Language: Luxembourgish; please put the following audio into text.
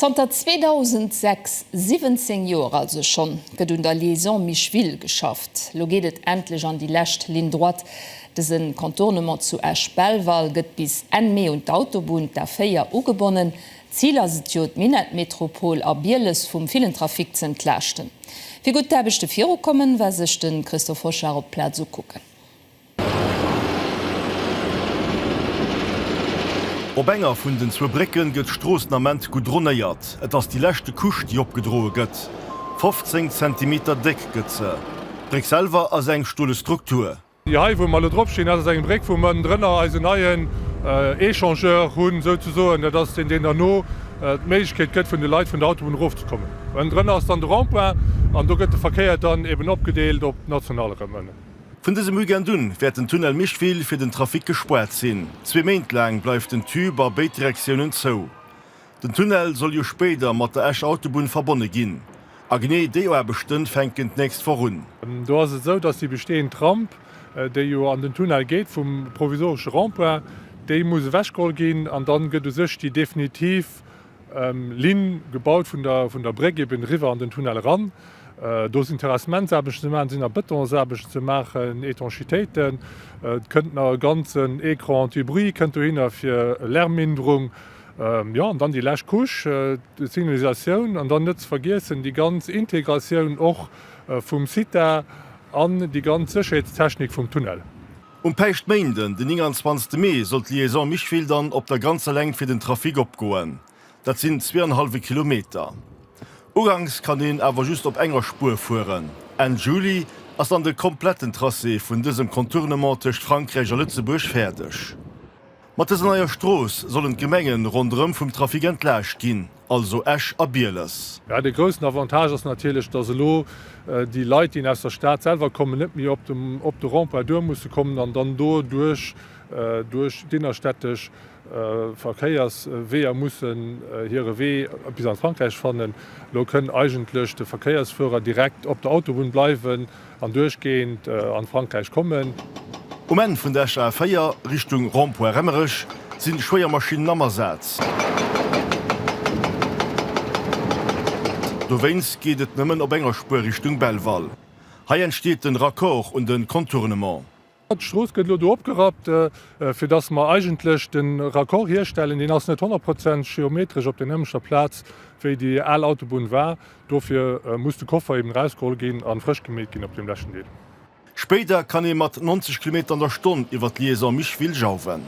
Zanter 2006, 17 Joer also schonn, gëtt un der Liaison Micheville geschafft. Lo geet et endlech an déi lescht Ligne droite. Dëse Contournement zu Esch-Belval gëtt bis Enn Mee un d'Autobunn, d'A4, ugebonnen. Zil ass et jo, d'Minettmetropol a Bieles vum villen Trafic ze entlaaschten. Wéi gutt d'Aarbechte virukommen, war sech de Christophe Hochard op d'Plaz ukucken. Op enger vun den zwou Brécken gëtt d'Strooss den Ament goudronéiert. Et ass déi leschte Couche déi opgedroe gëtt. 15 Zentimeter déck gëtt se. D'Bréck selwer ass eng stole Struktur. Déi hei wou mer elo drop stinn, dat ass eng Bréck wou mer ënnendrënner eisen neien Echangeur hunn souzesoen. Dat ass deen deen derno d'Méiglechkeet gëtt vun de Leit vun der Autobunn erofzekommen. Ënnendrënner ass dann de Rond-point an do gëtt de Verkéier dann eben opgedeelt op d'National erëm ënnen. Vun dësem Weekend un wäert den Tunnel Mischtville fir den Trafic gespaart sinn. Zwee Méint laang bleift den Tube a béid Direktiounen zou. Den Tunnel soll jo spéider mat der Escher Autobunn verbonne ginn. A genee déi Aarbechten fänken d'nächst Woch un. Do ass et esou, datt déi bestehend Ramp, déi jo an den Tunnel geet vum provisoresche Rond-point, déi muss ewechgeholl ginn an dann gëtt u sech déi definitiv Linn gebaut, vun der Bréck eben eriwwer an den Tunnel eran. Do sinn Terrassementsaarbechten ze maachen, sinn nach Betonsaarbechten ze maachen, Etanchitéiten. Et kënnt nach e ganzen Ecran anti-bruit kënnt dohinner fir Lärmminderung. Jo, an dann déi lescht Couche, d'Signalisatioun. An dann net ze vergiessen déi ganz Integratioun och vum Site an déi ganz Sécherheetstechnik vum Tunnel. Um Päischtméinden, den 29 Mee, soll d'Liaison Micheville dann op der ganzer Längt fir den Trafic opgoen. Dat sinn zwee an e hallwe Kilometer. Uganks kann een awer just op enger Spuer fueren. Enn Juli ass dann de kompletten Tracé vun dësem Contournement tëscht Frankräich a Lëtzebuerg fäerdeg. Mat dëser neier Strooss sollen d'Gemengen ronderëm vum Trafic entlaascht ginn. also Esch a Bieles. Jo, dee groussen Avantage ass natierlech, dass elo déi Leit, déi aus der Stad selwer kommen, net méi op de Rond-point duer musse kommen an dann do duerch duerch d'innerstädtesch Verkéiersweeër mussen hire Wee bis an d'Frankräich fannen. Elo kënn eigentlech de Verkéiersführer direkt op der Autobunn bleiwen. An duerchgehend an Frankräich kommen. Um Enn vun der Esch A4, Richtung Rond-Point Remmerech, sinn schwéier Maschinnen am Asaz. Dowéinst geet et nëmmen op enger Spuer Richtung Belval. Hei entsteet den Raccord un den Contournement. D'Strooss gëtt elo do opgerappt, fir datt mer eigentlech de Raccord hierstellen. Deen ass net honnertprozent geometresch op der nämlechter Plaz, wéi déi al Autobunn war. Dofir muss de Koffer eben erausgeholl ginn a frësch gemeet ginn op deem leschten Deel. Spéider kann ee mat 90 Kilometer an der Stonn iwwer d'Liaison Micheville jauwen.